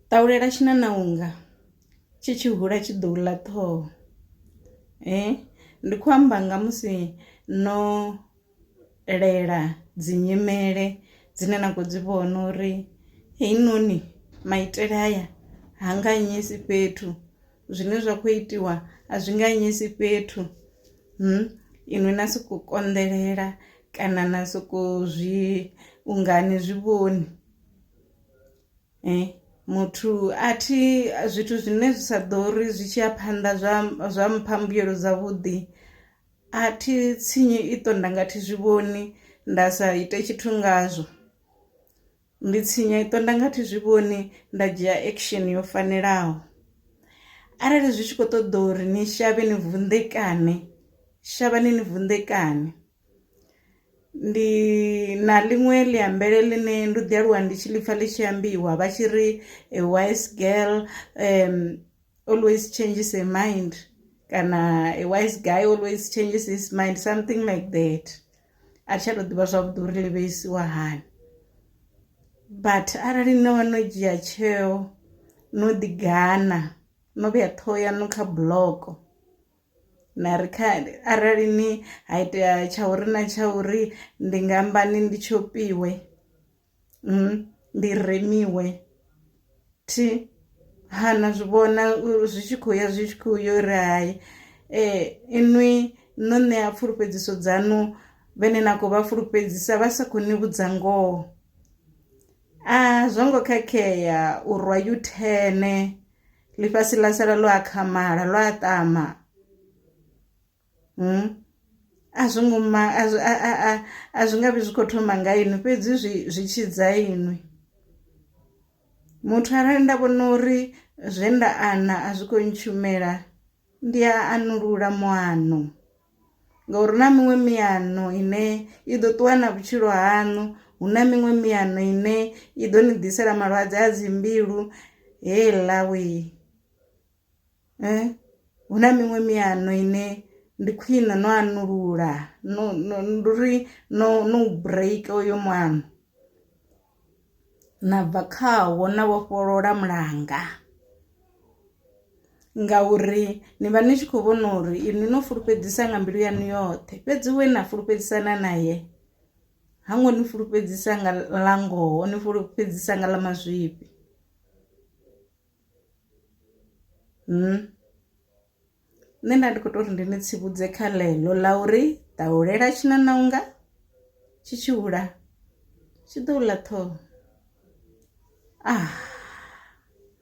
Ṱahulela tshinanaunga tshi tshi hula tshi ḓou ḽa ṱhoho, ndi khou amba nga musi no lela dzi nyimele dzine na kho dzi vhona uri heyi noni maitele haya ha nga anyisi fhethu zwine zwa kho itiwa a zwi nga anyisi fhethu, inwi na soko konḓelela kana na soko zwi ungani zwivhoni. Eh, muthu a thi zwithu zwine zwi sa ḓo ri zwi tshi ya phanḓa zwa zwa mpha mbuyelo dza vhuḓi, a thi tshinyi i ṱo nda nga thi zwi vhoni nda sa ite tshithu ngazwo. Ndi tshinya iṱo nda nga thi zwi vhoni nda dzhia action yo fanelaho, arali zwi tshi kho ṱoḓa uri ni shavhe ni vunḓekane shavhani ni vunḓekane. Ndi na ḽiṅwe ḽi ambele ḽine ndo ḓi aluwa ndi tshi ḽipfha ḽi tshi ambiwa vha tshi ri a wise girl always changes her mind kana a wise guy always changes his mind something like that a thi tsha to ḓivha zwavhuḓi uri ḽi vheisiwa hani. But arali no vha no dzhia tsheo no ḓi gana no vhea ṱhoho yaṋu kha buḽoko na ri kha arali ni ha itea tsha uri na tsha uri ndi nga amba ni ndi tshopiwe mm, ndi remiwe thi ha na zwi vhona zwi tshi khou ya zwi tshi khou yo ri hai eh inwi no ṋea pfulufhedziso dzanu vhene na khou vha fulufhedzisa vha sa khou ni vhudza ngoho a zwo ngo khakhea u rwa yuthene ḽifhasi ḽa sala ḽo akhamala lwa ṱama a zwo ngo ma a zwi a a a a zwi nga vhi zwi kho thoma nga inwi fhedzi zwi zwi tshidza inwi muthu arali nda vhona uri zwe nda ana a zwi kho ntshumela ndi a anulula muano. ngauri hu na miṅwe miano ine i ḓo ṱuwa na vhutshilo haṋu hu na miṅwe miano ine i ḓo ni ḓisela malwadze a dzi mbilu heiḽa we hu na miṅwe miano ine ndi khwine no anulula no no ndi uri no no break oyo muano. na bva khawo na vhofholola mulanga, ngauri ni vha ni tshi kho vhona uri inwi no fulufhedzisa nga mbilu yanu yoṱhe fhedzi we na fulufhedzisana naye ha ngo ni fulufhedzisa nga ḽa ngoho ni fulufhedzisa nga ḽa mazwifhi . nṋe nda ndi kho tori ndi ni tsivhudze kha ḽeḽo ḽa uri ṱahulela tshi na na unga tshi tshi hula tshi ḓo ḽa ṱhoho ah